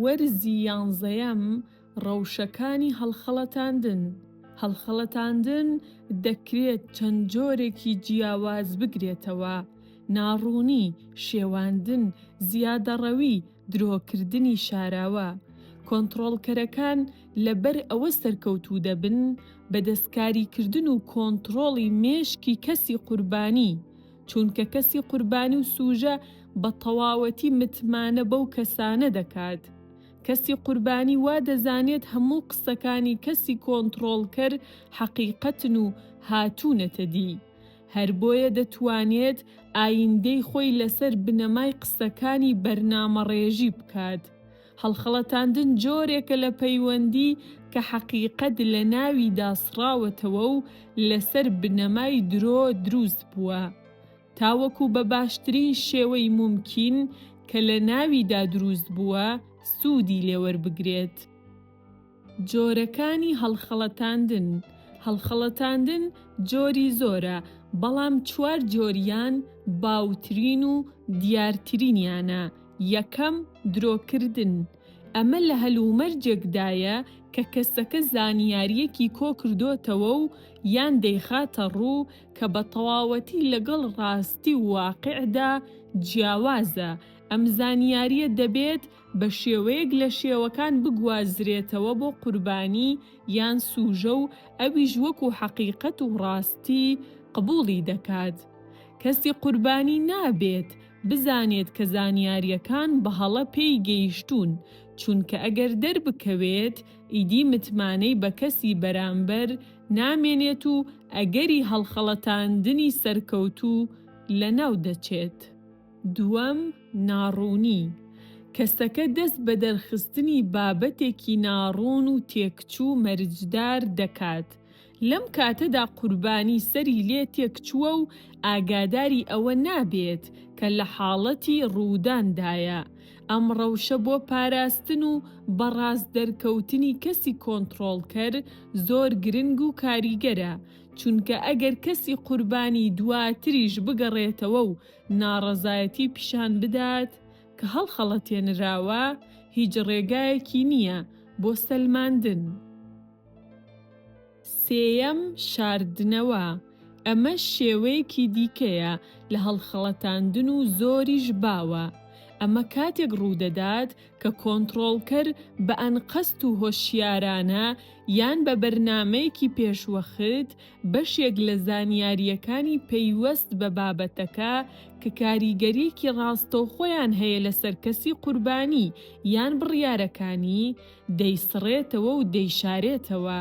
وەرزی یانزەیەم، ڕەوشەکانی هەڵخەڵەتاندن، هەڵخەڵەتاندن دەکرێت چەند جۆرێکی جیاواز بگرێتەوە، ناڕوونی، شێواندن، زیادەڕەوی، درۆکردنی شاراوە، کۆنتڕۆڵکەرەکان لەبەر ئەوە سەرکەوتوو دەبن بە دەستکاریکردن و کۆنتڕۆڵی مێشکی کەسی قوربانی، چوونکە کەسی قوربانی و سووژە بە تەواوەتی متمانە بەو کەسانە دەکات. کەسی قوربانی وا دەزانێت هەموو قسەکانی کەسی کۆنتڕۆڵکەر حەقیقەتن و هاتوونەتە دی، هەر بۆیە دەتوانێت ئایندەی خۆی لەسەر بنەمای قسەکانی بەرنامەڕێژی بکات. هەڵخەڵەتاندن جۆرێکە لە پەیوەندی کە حەقیقەت لە ناویدا سڕاوەتەوە و لەسەر بنەمای درۆ دروست بووە. تاوەکو بە باشترین شێوەی مومکین کە لە ناویدا دروست بووە سوودی لێوەربگرێت. جۆرەکانی هەڵخەڵەتاندن، هەڵخەڵەتاندن جۆری زۆرە، بەڵام چوار جۆریان باوترین و دیارترینیانە، یەکەم، درۆکردن، ئەمە لە هەلومەرجێکدایە کە کەسەکە زانیارییەکی کۆکردۆتەوە و یان دەیخاتە ڕوو کە بە تەواوەتی لەگەڵ ڕاستی و واقیعدا جیاوازە، ئەم زانیارییە دەبێت بە شێوەیەک لە شێوەکان بگوازرێتەوە بۆ قوربانی یان سووژە و ئەویش وەکوو حەقیقەت و ڕاستی قبووڵی دەکات. کەسی قوربانی نابێت بزانێت کە زانیارییەکان بە هەڵە پێی گەیشتوون، چونکە ئەگەر دەربکەوێت ئیدی متمانەی بە کەسی بەرامبەر نامێنێت و ئەگەری هەڵخەڵەتاندنی سەرکەوتوو لەناو دەچێت. دووەم، ناڕوونی، کەسەکە دەست بە دەرخستنی بابەتێکی ناڕوون و تێکچوو مەرجدار دەکات، لەم کاتەدا قوربانی سەری لێ تێکچووە و ئاگاداری ئەوە نابێت کە لە حاڵەتی ڕووداندایە، ئەم ڕەوشە بۆ پاراستن و بە ڕاست دەرکەوتنی کەسی کۆنتڕۆڵکەر زۆر گرنگ و کاریگەرە، چونکە ئەگەر کەسی قوربانی دواتریش بگەڕێتەوە و ناڕەزایەتی پیشان بدات کە هەڵخەڵەتێنراوە، هیچ ڕێگایەکی نییە بۆ سەلماندن. سێیەم، شاردنەوە، ئەمەش شێوەیەکی دیکەیە لە هەڵخەڵەتاندن و زۆریش باوە. ئەمە کاتێک ڕوودەدات کە کۆنتڕۆڵکەر بە ئەنقەست و هۆشیارانە یان بە بەرنامەیەکی پێشوەخت بەشێک لە زانیارییەکانی پەیوەست بە بابەتەکە کە کاریگەرییەکی ڕاستەوخۆیان هەیە لەسەر کەسی قوربانی یان بڕیارەکانی، دەیسڕێتەوە و دەیشارێتەوە.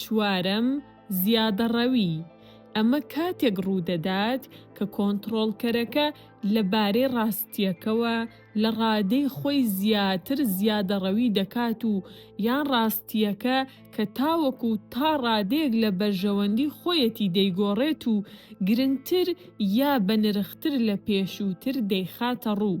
چوارەم، زیادەڕەوی، ئەمە کاتێک ڕوودەدات کە کۆنتڕۆڵکەرەکە لەبارەی ڕاستییەکەوە لە ڕادەی خۆی زیاتر زیادەڕەوی دەکات و یان ڕاستییەکە کە تاوەکو تا ڕادەیەک لە بەرژەوەندی خۆیەتی دەیگۆڕێت و گرنگتر یا بەنرختر لە پێشووتر دەیخاتەڕوو.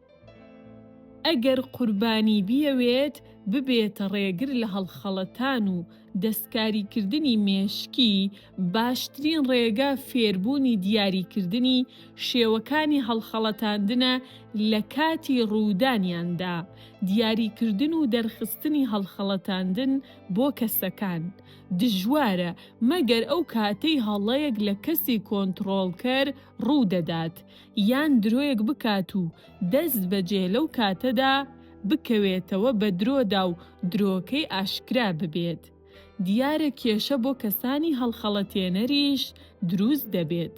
ئەگەر قوربانی بیەوێت ببێتە ڕێگر لە هەڵخەڵەتان و دەستکاریکردنی مێشکی، باشترین ڕێگە فێربوونی دیاریکردنی شێوەکانی هەڵخەڵەتاندنە لە کاتی ڕوودانیاندا، دیاریکردن و دەرخستنی هەڵخەڵەتاندن بۆ کەسەکان، دژوارە، مەگەر ئەو کاتەی هەڵەیەک لە کەسی کۆنتڕۆڵکەر ڕوودەدات، یان درۆیەک بکات و دەست بەجێ لەو کاتەدا بکەوێتەوە بە درۆدا و درۆکەی ئاشکرا ببێت، دیارە کێشە بۆ کەسانی هەڵخەڵەتێنەریش دروست دەبێت،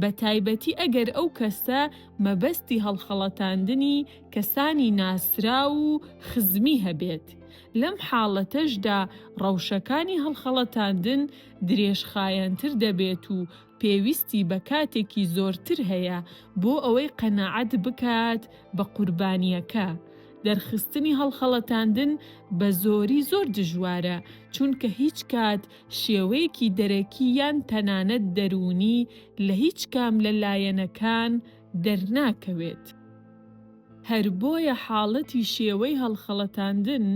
بە تایبەتی ئەگەر ئەو کەسە مەبەستی هەڵخەڵەتاندنی کەسانی ناسراو و خزمی هەبێت، لەم حاڵەتەشدا ڕەوشەکانی هەڵخەڵەتاندن درێژخایەنتر دەبێت و پێویستی بە کاتێکی زۆرتر هەیە بۆ ئەوەی قەناعەت بکات بە قوربانییەکە. دەرخستنی هەڵخەڵەتاندن بە زۆری زۆر دژوارە، چونکە هیچ کات شێوەیەکی دەرەکی یان تەنانەت دەروونی لە هیچ کام لە لایەنەکان دەرناکەوێت. هەر بۆیە حاڵەتی شێوەی هەڵخەڵەتاندن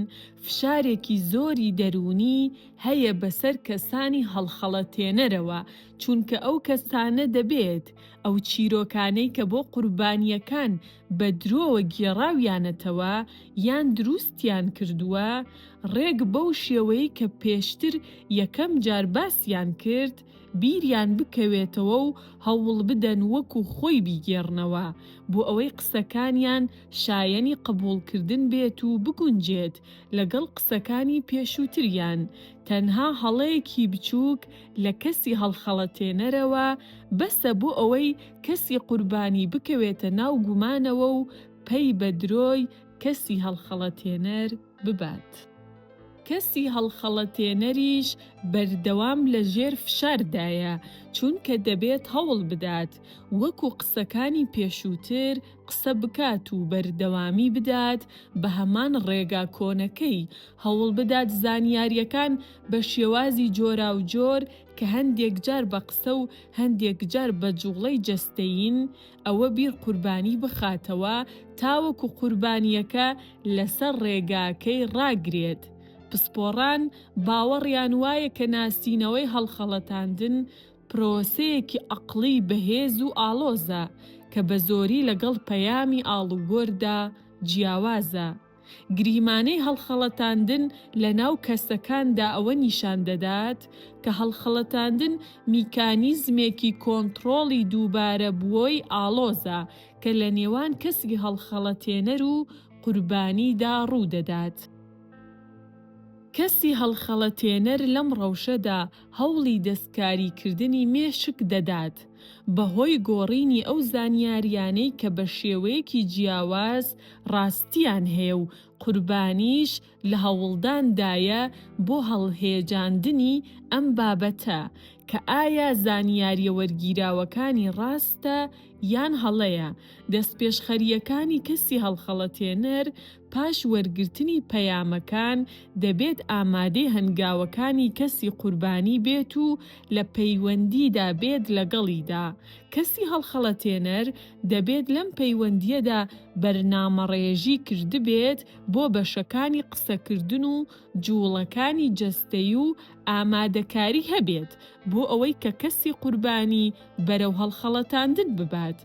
فشارێکی زۆری دەروونی هەیە بەسەر کەسانی هەڵخەڵەتێنەرەوە، چونکە ئەو کەسانە دەبێت ئەو چیرۆکانەی کە بۆ قوربانییەکان بە درۆوە گێڕاویانەتەوە یان دروستیان کردووە، ڕێک بەو شێوەیەی کە پێشتر یەکەم جار باسیان کرد، بیریان بکەوێتەوە و هەوڵبدەن وەکو خۆی بیگێڕنەوە، بۆ ئەوەی قسەکانیان شایەنی قبوڵکردن بێت و بگونجێت لەگەڵ قسەکانی پێشووتریان، تەنها هەڵەیەکی بچووک لە کەسی هەڵخەڵەتێنەرەوە بەسە بۆ ئەوەی کەسی قوربانی بکەوێتە ناو گومانەوە و پەی بە درۆی کەسی هەڵخەڵەتێنەر ببات. کەسی هەڵخەڵەتێنەریش بەردەوام لە ژێر فشاردایە، چونکە دەبێت هەوڵ بدات وەکو قسەکانی پێشووتر قسە بکات و بەردەوامی بدات بە هەمان ڕێگا کۆنەکەی، هەوڵ بدات زانیارییەکان بە شێوازی جۆراوجۆر کە هەندێک جار بە قسە و هەندێک جار بە جووڵەی جەستەیین، ئەوە بیر قوربانی بخاتەوە تاوەکو قوربانیەکە لەسەر ڕێگاکەی ڕاگرێت، پسپۆڕان باوەڕیان وایە کە ناسینەوەی هەڵخەڵەتاندن پرۆسەیەکی ئەقڵی بەهێز و ئاڵۆزە کە بەزۆری لەگەڵ پەیامی ئاڵوگۆردا جیاوازە. گریمانەی هەڵخەڵەتاندن لەناو کەسەکاندا ئەوە نیشان دەدات کە هەڵخەڵەتاندن میکانیزمێکی کۆنتڕۆڵی دووبارە بووەی ئاڵۆزە کە لە نێوان کەسی هەڵخەڵەتێنەر و قوربانیدا ڕوو دەدات. کەسی هەڵخەڵەتێنەر لەم ڕەوشەدا هەوڵی دەستکاریکردنی مێشک دەدات، بەهۆی گۆڕینی ئەو زانیارییانەی کە بە شێوەیەکی جیاواز ڕاستییان هەیە و قوربانیش لە هەوڵداندایە بۆ هەڵهێجاندنی ئەم بابەتە کە ئایا زانیارییە وەرگیراوەکانی ڕاستە یان هەڵەیە، دەستپێشخەرییەکانی کەسی هەڵخەڵەتێنەر، پاش وەرگرتنی پەیامەکان دەبێت ئامادەی هەنگاوەکانی کەسی قوربانی بێت و لە پەیوەندیدا بێت لەگەڵیدا، کەسی هەڵخەڵەتێنەر دەبێت لەم پەیوەندییەدا بەرنامەڕێژی کردبێت بۆ بەشەکانی قسەکردن و جوڵەکانی جەستەی و ئامادەکاری هەبێت بۆ ئەوەی کە کەسی قوربانی بەرەو هەڵخەڵەتاندن ببات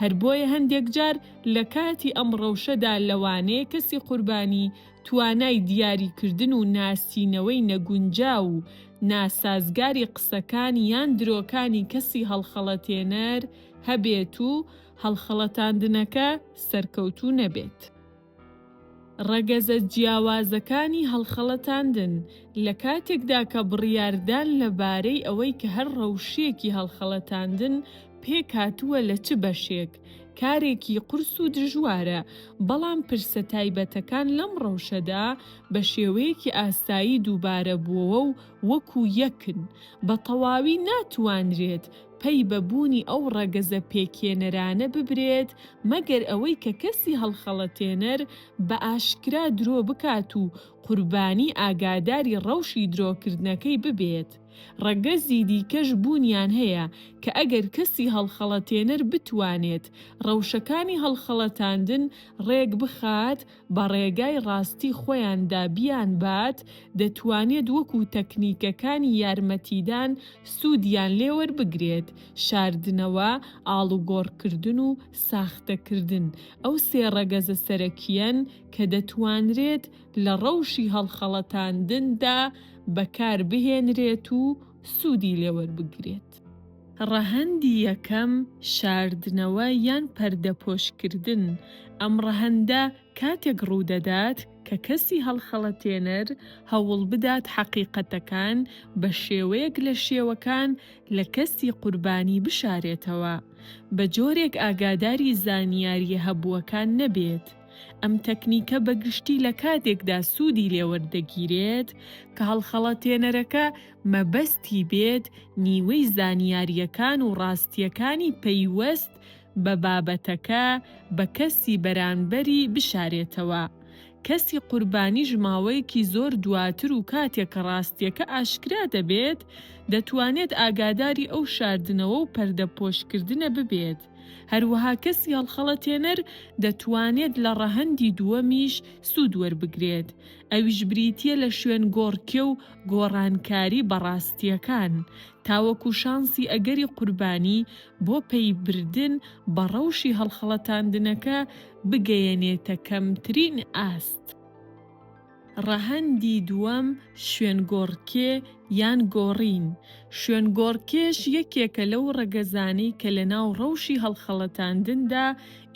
هەر بۆیە هەندێک جار لە کاتی ئەم ڕەوشەدا لەوانەیە کەسی قوربانی توانای دیاری کردن و ناسینەوەی نەگونجاو و ناسازگاری قسەکان یان درۆکانی کەسی هەڵخەڵەتێنەر هەبێت و هەڵخەڵەتاندنەکە سەرکەوتوو نەبێت. ڕەگەزە جیاوازەکانی هەڵخەڵەتاندن، لە کاتێکدا کە بڕیاردان لە بارەی ئەوەی کە هەر ڕەوشیەکی هەڵخەڵەتاندن پێکهاتووە لە چ بەشێک، کارێکی قورس و دژوارە، بەڵام پرسە تایبەتەکان لەم ڕەوشەدا بە شێوەیەکی ئاسایی دووبارە بووەوە و وەکو یەکن، بە تەواوی ناتوانرێت پەی بە بوونی ئەو ڕەگەزە پێکهێنەرانە ببرێت، مەگەر ئەوەی کە کەسی هەڵخەڵەتێنەر بە ئاشکرا درۆ بکات و قوربانی ئاگاداری ڕەوشی درۆکردنەکەی ببێت. ڕەگەزی دیکەش بوونیان هەیە کە ئەگەر کەسی هەڵخەڵەتێنەر بتوانێت ڕەوشەکانی هەڵخەڵەتاندن ڕێک بخات، بە ڕێگای ڕاستی خۆیاندا بیانبات، دەتوانێت وەکو تەکنیکەکانی یارمەتیدان سوودیان لێ وەربگرێت، شاردنەوە، ئاڵوگۆڕکردن و ساختەکردن، ئەو سێ ڕەگەزە سەرەکییەن کە دەتوانرێت لە ڕەوشی هەڵخەڵەتاندندا بەکاربهێنرێت و سوودی لێ وەربگرێت. ڕەهەندی یەکەم، شاردنەوە یان پەردەپۆشکردن، ئەم ڕەهەندە کاتێک ڕوودەدات کە کەسی هەڵخەڵەتێنەر هەوڵبدات حەقیقەتەکان بە شێوەیەک لە شێوەکان لە کەسی قوربانی بشارێتەوە بە جۆرێک ئاگاداری زانیارییە هەبووەکان نەبێت. ئەم تەکنیکە بە گشتی لە کاتێکدا سوودی لێوەردەگیرێت کە هەڵخەڵەتێنەرەکە مەبەستی بێت نیوەی زانیارییەکان و ڕاستییەکانی پەیوەست بە بابەتەکە بە کەسی بەرانبەری بشارێتەوە، کەسی قوربانیش ماوەیەکی زۆر دواتر و کاتێک کە ڕاستییەکە ئاشکرا دەبێت دەتوانێت ئاگاداری ئەو شاردنەوە و پەردەپۆشکردنە ببێت، هەروەها کەسی هەڵخەڵەتێنەر دەتوانێت لە ڕەهەندی دووەمیش سوود وەربگرێت ئەویش بریتییە لە شوێنگۆڕکێ و گۆڕانکاری بە ڕاستییەکان، تاوەکو شانسی ئەگەری قوربانی بۆ پەیبردن بە ڕەوشی هەڵخەڵەتاندنەکە بگەیەنێتە کەمترین ئاست. ڕەهەندی دووەم شوێنگۆڕکێ یان گۆڕین، شوێنگۆڕکێش یەکێکە لەو ڕەگەزانەی کە لەناو ڕەوشی هەڵخەڵەتاندندا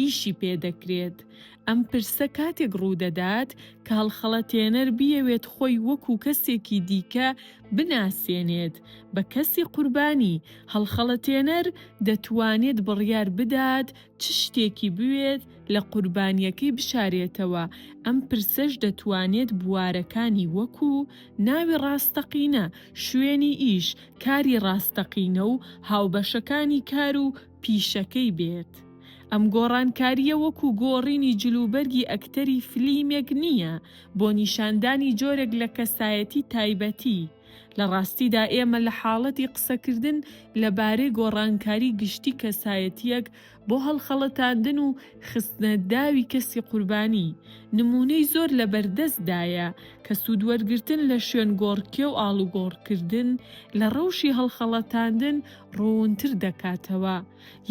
ئیشی پێدەکرێت، ئەم پرسە کاتێک ڕوودەدات کە هەڵخەڵەتێنەر بیەوێت خۆی وەکوو کەسێکی دیکە بناسێنێت بە کەسی قوربانی، هەڵخەڵەتێنەر دەتوانێت بڕیار بدات چ شتێکی بوێت لە قوربانییەکەی بشارێتەوە، ئەم پرسەش دەتوانێت بوارەکانی وەکوو، ناوی ڕاستەقینە، شوێنی ئیش، کاری ڕاستەقینە و هاوبەشەکانی کار و. پیشەکەی بێت. ئەم گۆڕانکارییە وەکو گۆڕینی جلوبەرگی ئەکتەری فلیمێک نییە بۆ نیشاندانی جۆرێک لە کەسایەتی تایبەتی، لە ڕاستیدا ئێمە لە حاڵەتی قسەکردن لەبارەی گۆڕانکاری گشتی کەسایەتییەک بۆ هەڵخەڵەتاندن و خستنە داوی کەسی قوربانی، نموونەی زۆر لەبەردەستدایە کە سوودوەرگرتن لە شوێنگۆڕکێ و ئاڵوگۆڕکردن لە ڕەوشی هەڵخەڵەتاندن ڕوونتر دەکاتەوە،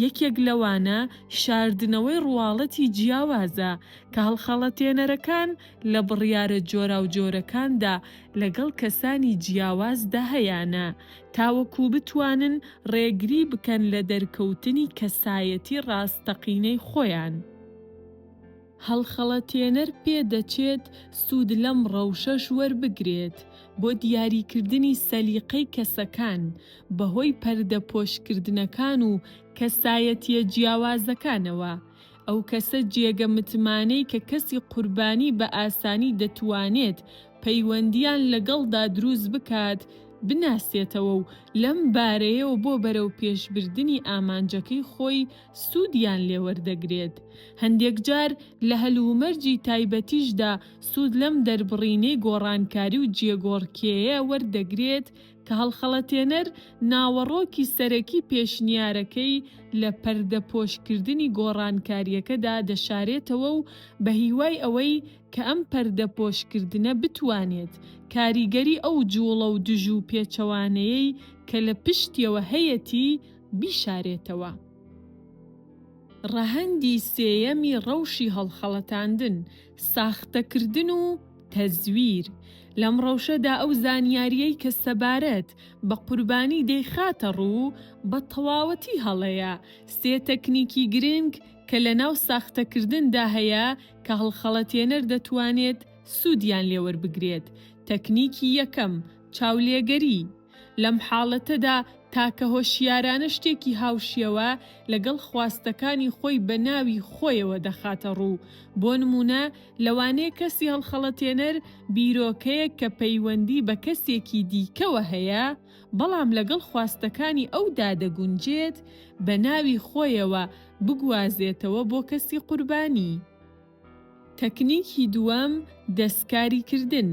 یەکێک لەوانە شاردنەوەی ڕواڵەتی جیاوازە کە هەڵخەڵەتێنەرەکان لە بڕیارە جۆراوجۆرەکاندا لەگەڵ کەسانی جیاوازدا هەیانە تاوەکو بتوانن ڕێگری بکەن لە دەرکەوتنی کەسایەتی ڕاستەقینەی خۆیان. هەڵخەڵەتێنەر پێدەچێت سوود لەم ڕەوشەش وەربگرێت بۆ دیاریکردنی سەلیقەی کەسەکان بەهۆی پەردەپۆشکردنەکان و کەسایەتییە جیاوازەکانەوە، ئەو کەسە جێگە متمانەی کە کەسی قوربانی بە ئاسانی دەتوانێت پەیوەندییان لەگەڵدا دروست بکات بناسێتەوە و لەم بارەیەوە بۆ بەرەوپێشبردنی ئامانجەکەی خۆی سوودیان لێ وەردەگرێت، هەندێکجار لە هەلومەرجی تایبەتیشدا سوود لەم دەربڕینەی گۆڕانکاری و جێگۆڕکێیە وەردەگرێت کە هەڵخەڵەتێنەر ناوەڕۆکی سەرەکی پێشنیارەکەی لە پەردەپۆشکردنی گۆڕانکارییەکەدا دەشارێتەوە و بە هیوای ئەوەی کە ئەم پەردەپۆشکردنە بتوانێت کاریگەری ئەو جووڵە و دژ و پێچەوانەیەی کە لە پشتیەوە هەیەتی بیشارێتەوە. ڕەهەندی سێیەمی ڕەوشی هەڵخەڵەتاندن، ساختەکردن و تەزویر، لەم ڕەوشەدا ئەو زانیارییەی کە سەبارەت بە قوربانی دەیخاتە ڕوو بە تەواوەتی هەڵەیە، سێ تەکنیکی گرنگ کە لەناو ساختەکردندا هەیە کە هەڵخەڵەتێنەر دەتوانێت سوودیان لێوەربگرێت، تەکنیکی یەکەم، چاولێگەری، لەم حاڵەتەدا تاکە هۆشیارانە شتێکی هاوشێوە لەگەڵ خواستەکانی خۆی بە ناوی خۆیەوە دەخاتە ڕوو، بۆ نموونە لەوانەیە کەسی هەڵخەڵەتێنەر بیرۆکەیەک کە پەیوەندی بە کەسێکی دیکەوە هەیە بەڵام لەگەڵ خواستەکانی ئەودا دەگونجێت بە ناوی خۆیەوە بگوازێتەوە بۆ کەسی قوربانی. تەکنیکی دووەم، دەستکاری کردن،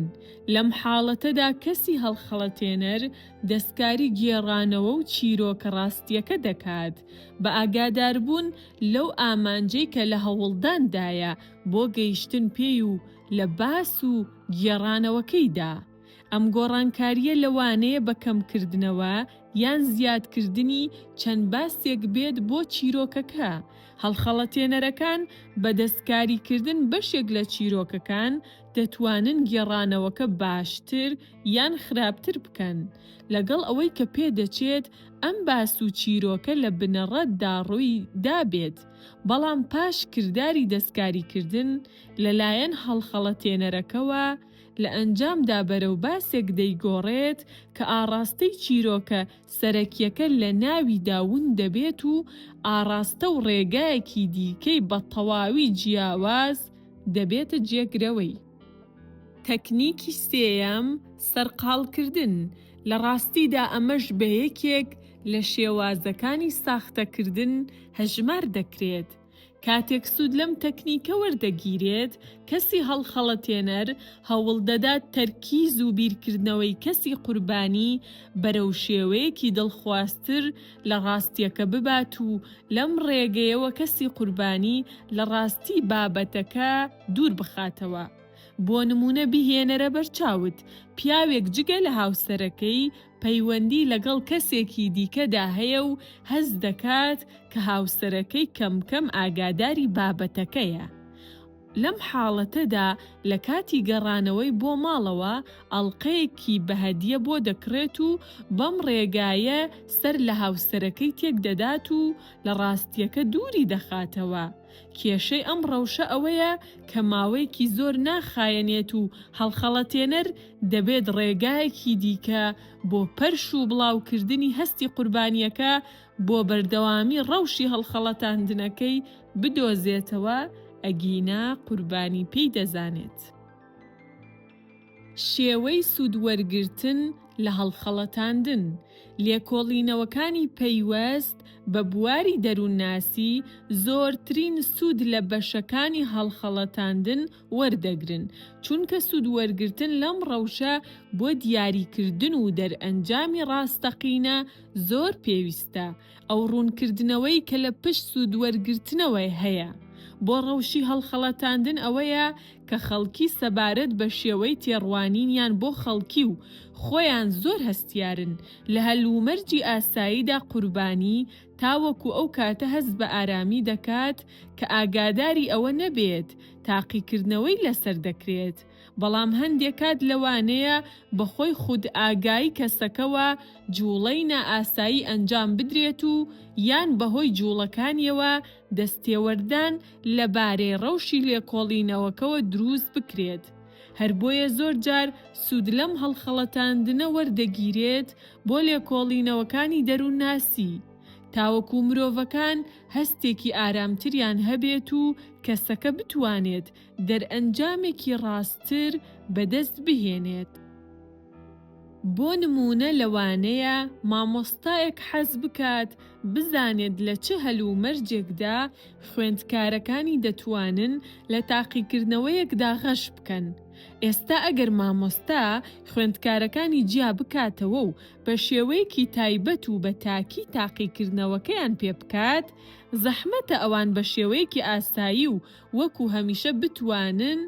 لەم حاڵەتەدا کەسی هەڵخەڵەتێنەر دەستکاری گێڕانەوە و چیرۆکە ڕاستییەکە دەکات، بە ئاگاداربوون لەو ئامانجەی کە لە هەوڵداندایە بۆ گەیشتن پێی و لە باس و گێڕانەوەکەیدا. ئەم گۆڕانکارییە لەوانەیە بە کەمکردنەوە یان زیادکردنی چەند باسێک بێت بۆ چیرۆکەکە، هەڵخەڵەتێنەرەکان بە دەستکاریکردن بەشێک لە چیرۆکەکان دەتوانن گێڕانەوەکە باشتر یان خراپتر بکەن، لەگەڵ ئەوەی کە پێدەچێت ئەم باس و چیرۆکە لە بنەڕەتدا ڕووی دابێت، بەڵام پاش کرداری دەستکاریکردن لەلایەن هەڵخەڵەتێنەرەکەوە، لە ئەنجامدا بەرەو باسێک دەیگۆڕێت کە ئاڕاستەی چیرۆکە سەرەکییەکە لە ناویدا ون دەبێت و ئاڕاستە و ڕێگایەکی دیکەی بە تەواوی جیاواز دەبێتە جێگرەوەی. تەکنیکی سێیەم، سەرقاڵکردن، لە ڕاستیدا ئەمەش بە یەکێک لە شێوازەکانی ساختەکردن هەژمار دەکرێت، کاتێک سوود لەم تەکنیکە وەردەگیرێت، کەسی هەڵخەڵەتێنەر هەوڵدەدات تەرکیز و بیرکردنەوەی کەسی قوربانی بەرەو شێوەیەکی دڵخوازتر لە ڕاستییەکە ببات و لەم ڕێگەیەوە کەسی قوربانی لە ڕاستی بابەتەکە دوور بخاتەوە. بۆ نموونە بیهێنەرە بەرچاوت، پیاوێک جگە لە هاوسەرەکەی، پەیوەندی لەگەڵ کەسێکی دیکەدا هەیە و هەست دەکات کە هاوسەرەکەی کەم کەم ئاگاداری بابەتەکەیە. لەم حاڵەتەدا لە کاتی گەڕانەوەی بۆ ماڵەوە ئەڵقەیەکی بە هەدیە بۆ دەکڕێت و بەم ڕێگایە سەر لە هاوسەرەکەی تێک دەدات و لە ڕاستییەکە دووری دەخاتەوە. کێشەی ئەم ڕەوشە ئەوەیە کە ماوەیەکی زۆر ناخایەنێت و هەڵخەڵەتێنەر دەبێت ڕێگایەکی دیکە بۆ پەرش و بڵاوکردنی هەستی قوربانییەکە بۆ بەردەوامی ڕەوشی هەڵخەڵەتاندنەکەی بدۆزێتەوە، ئەگینا قوربانی پێی دەزانێت. شێوەی سوود وەرگرتن لە هەڵخەڵەتاندن، لێکۆڵینەوەکانی پەیوەست بە بواری دەروونناسی زۆرترین سوود لە بەشەکانی هەڵخەڵەتاندن وەردەگرن، چونکە سوود وەرگرتن لەم ڕەوشە بۆ دیاریکردن و دەرئەنجامی ڕاستەقینە زۆر پێویستە، ئەو ڕوونکردنەوەی کە لە پشت سوودوەرگرتنەوە هەیە بۆ ڕەوشی هەڵخەڵەتاندن ئەوەیە کە خەڵکی سەبارەت بە شێوەی تێڕوانینیان بۆ خەڵکی و خۆیان زۆر هەستیارن لە هەلومەرجی ئاساییدا قوربانی تاوەکو ئەو کاتە هەست بە ئارامی دەکات کە ئاگاداری ئەوە نەبێت تاقیکردنەوەی لەسەر دەکرێت بەڵام هەندێ کات لەوانەیە بەهۆی خودئاگایی کەسەکەوە جووڵەی نائاسایی ئەنجام بدرێت و یان بەهۆی جووڵەکانیەوە دەستێوەردان لەبارەی ڕەوشی لێکۆڵینەوەکەوە درووست بکرێت هەر بۆیە زۆر جار سوود لەم هەڵخەڵەتاندنە وەردەگیرێت بۆ لێکۆڵینەوەکانی دەروونناسی تاوەکوو مرۆڤەکان هەستێکی ئارامتریان هەبێت و کەسەکە بتوانێت دەرئەنجامێکی ڕاستتر بەدەست بهێنێت. بۆ نموونە لەوانەیە مامۆستایەک حەز بکات بزانێت لە چ هەلومەرجێکدا خوێندکارەکانی دەتوانن لە تاقیکردنەوەیەکدا غەش بکەن. ئێستا ئەگەر مامۆستا خوێندکارەکانی جیا بکاتەوە و بە شێوەیەکی تایبەت و بە تاکی تاقیکردنەوەکەیان پێ بکات، زەحمەتە ئەوان بە شێوەیەکی ئاسایی و وەکو هەمیشە بتوانن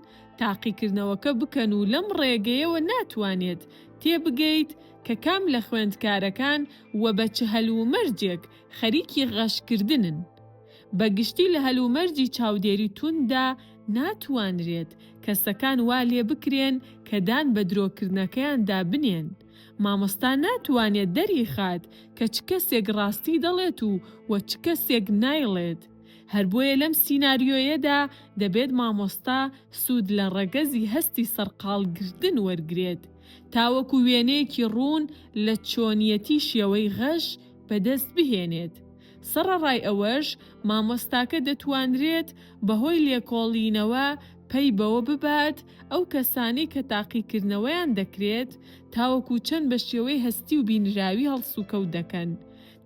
تاقیکردنەوەکە بکەن و لەم ڕێگەیەوە ناتوانیت تێبگەیت کە کام لە خوێندکارەکان و بە چ هەلومەرجێک خەریکی غەشکردنن. بە گشتی لە هەلومەرجی چاودێری تونددا ناتوانرێت کەسەکان وا لێبکرێن کە دان بە درۆکردنەکەیاندا بنێن. مامۆستا ناتوانێت دەریخات کە چ کەسێک ڕاستی دەڵێت و چ کەسێک نایڵێت. هەر بۆیە لەم سیناریۆیەدا دەبێت مامۆستا سوود لە ڕەگەزی هەستی سەرقاڵگرتن وەرگرێت تاوەکو وێنەیەکی ڕوون لە چۆنیەتی شێوەی غەش بەدەست بهێنێت. سەڕەڕای ئەوەش مامۆستاکە دەتوانرێت بەهۆی لێکۆڵینەوە پەی بەوە ببات ئەو کەسانەی کە تاقیکردنەوەیان دەکرێت تاوەکو چەند بە شێوەی هەستی و بینراوی هەڵسوکەوت دەکەن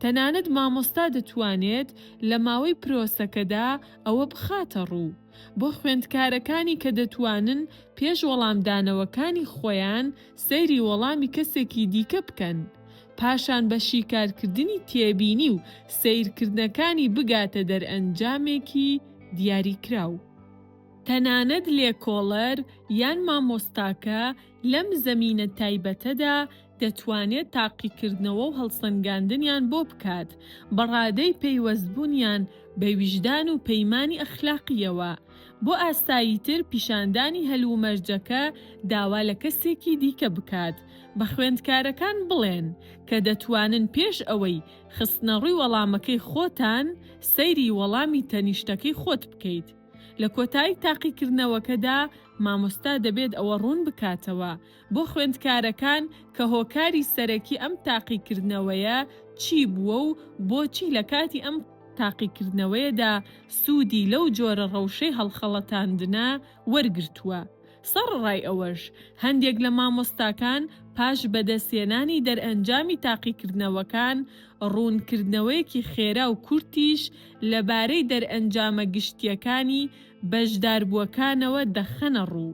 تەنانەت مامۆستا دەتوانێت لە ماوەی پرۆسەکەدا ئەوە بخاتە ڕوو بۆ خوێندکارەکانی کە دەتوانن پێش وەڵامدانەوەکانی خۆیان سەیری وەڵامی کەسێکی دیکە بکەن پاشان بە شیکارکردنی تێبینی و سەیرکردنەکانی بگاتە دەرئەنجامێکی دیاریکراو. تەنانەت لێکۆڵەر یان مامۆستاکە لەم زەمینە تایبەتەدا دەتوانێت تاقیکردنەوە و هەڵسەنگاندنیان بۆ بکات بە ڕادەی پەیوەستبوونیان بە ویژدان و پەیمانی ئەخلاقییەوە. بۆ ئاساییتر پیشاندانی هەلومەرجەکە داوا لە کەسێکی دیکە بکات بە خوێندکارەکان بڵێن کە دەتوانن پێش ئەوەی خستنەڕووی وەڵامەکەی خۆتان سەیری وەڵامی تەنیشتەکەی خۆت بکەیت. لە کۆتایی تاقیکردنەوەکەدا مامۆستا دەبێت ئەوە ڕوون بکاتەوە بۆ خوێندکارەکان کە هۆکاری سەرەکی ئەم تاقیکردنەوەیە چی بووە و بۆچی لە کاتی ئەم تاقیکردنەوەیەدا سوودی لەو جۆرە ڕەوشەی هەڵخەڵەتاندنە وەرگرتووە. سەڕڕای ئەوەش، هەندێک لە مامۆستاکان پاش بەدەستهێنانی دەرئەنجامی تاقیکردنەوەکان، ڕوونکردنەوەیەکی خێرا و کورتیش لەبارەی دەرئەنجامە گشتییەکانی بەشداربووەکانەوە دەخەنە ڕوو.